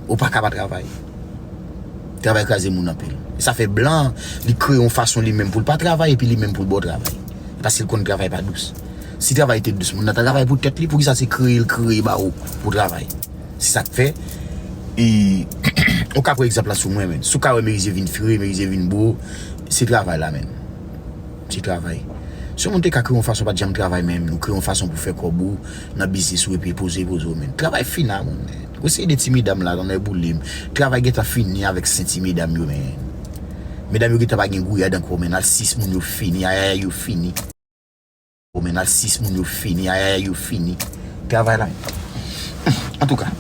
Ou paka pa travay. Travay kraze moun anpil. E sa fè blan an, li kreye yon fason li menm pou l pa travay epi li menm pou l ba w travay. Paske l konn travay pa dous. Si travay te dous, moun nan ta travay pou tèt li, poukisa se kreye l kreye ba ou pou w travay? Se sa k fè, e, ou ka pran egzanp la sou mwen menm. Si w ka wè Merize vin fre, Merize vin bo, se travay la menm. Se travay. Si yon moun te ka kreye yon fason pa t janm travay menm, ou kreye yon fason pou fè kòb ou nan biznis ou epi poze poze w menm. Travay fina moun. Ou se 2 ti medam la lanmè boulem travay gentan fini avèk 5 ti medam yo men medam yo gentan pa gen gouyad ankò men nan 6 moun yo fini ayayay yo fini men nan 6 moun yo fini ayayay yo fini travay la antouka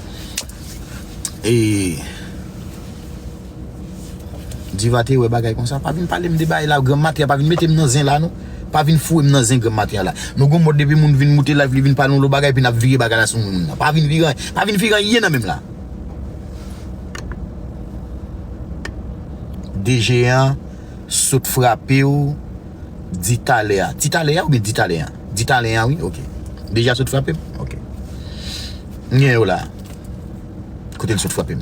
ee. Diva te wè bagay konsa pa vin palem de bagay la grand matya pa vin metem nan zen la non pa vin fourem nan zen grand matya la nou gon mòd depi moun vin moute live li vin pale yon lòt bagay epi nap vire bagay la sou moun nan pa vin vire anyen pa vin vire anyen nan menm la DG an sot frapew di talè a ti talè a oubyen di talè an di talè an wi ok DG a sot frapem ok m gen yo la kote l sot frapem